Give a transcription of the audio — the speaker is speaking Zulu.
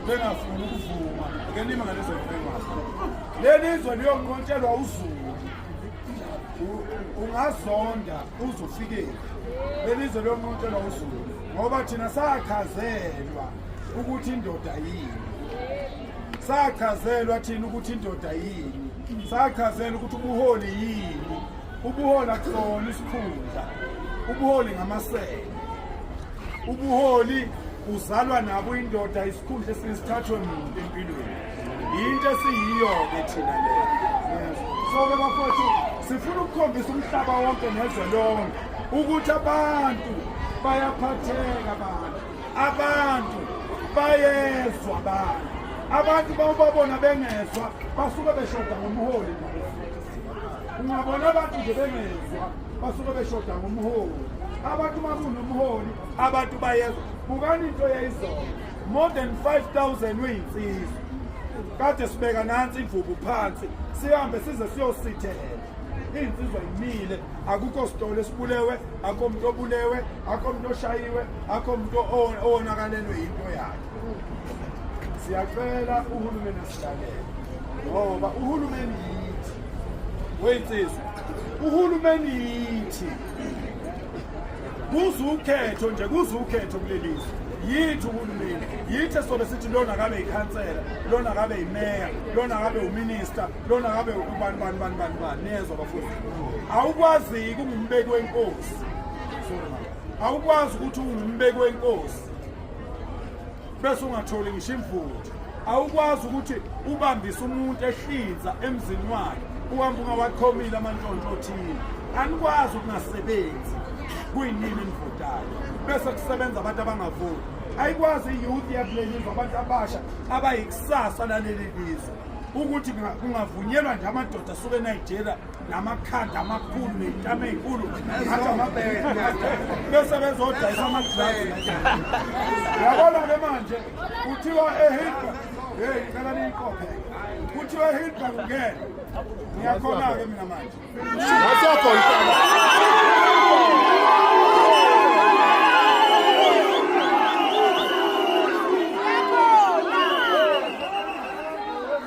bengafuni ukuvuma ke nima ngalezo ngebengazi leli izwe liyonqontshelwa uzulu ungazonda uzofikela leli izwe liyonqontshelwa uzulu ngoba thina sachazelwa ukuthi indoda yini sachazelwa thina ukuthi indoda yini sachazelwa ukuthi ubuholi yini ubuholi akusona isikhundla ubuholi ngamasebe ubuholi uzalwa nabo indoda isikhundla esinesithathwe muntu empilweni yinto esiyiyo-ke thina le so-ke bafowethu sifuna ukukhombisa umhlaba wonke nezwe lonke ukuthi abantu bayaphatheka abantu abantu bayezwa abantu abantu bawubabona bengezwa basuke beshoda ngomholi ungabona abantu nje bengezwa basuke beshoda ngomholi abantu uma kunomholi abantu bayezwa bukani into yayizona more than 5000 uyinsizwa kade sibeka nansi imvubu phansi sihambe size siyosithela iy'nsizwa yimile akukho sitolo esibulewe akho muntu obulewe akho muntu oshayiwe akho muntu owonakalelwe yinto yakhe siyacela uhulumeni ngoba uhulumeni yithi weyinsizwa uhulumeni yithi kuze ukhetho nje kuze ukhetho kuleli zwe yithi uhulumeni yithi esobe sithi lona kabe yikhansela lona kabe yimeya lona kabe uminista lona kabe ubani bani bani bani bani niyezwa bafundi awukwazi-ke ungumbeki wenkosi awukwazi ukuthi ungumbeki wenkosi bese ungatholi ngisho imvuthu awukwazi ukuthi ubambise umuntu ehlinza emzini wakhe uhamba ungawaqhomile amantshontsho othile anikwazi ukungasebenzi kuyinini enivotayo bese kusebenza abantu abangavoti ayikwazi iyouth yakuleli izwe abantu abasha abayikusasa laleli lizwe ukuthi kungavunyelwa nje amadoda asuke enigeria namakhadi amakhulu ney'tama ey'nkulu ngathi amabele bese bezodayisa amadlazi yabona-ke manje kuthiwa ehilbert heyi cela niyiqophe kuthiwa ehilbert ungene ngiyakhona-ke mina manje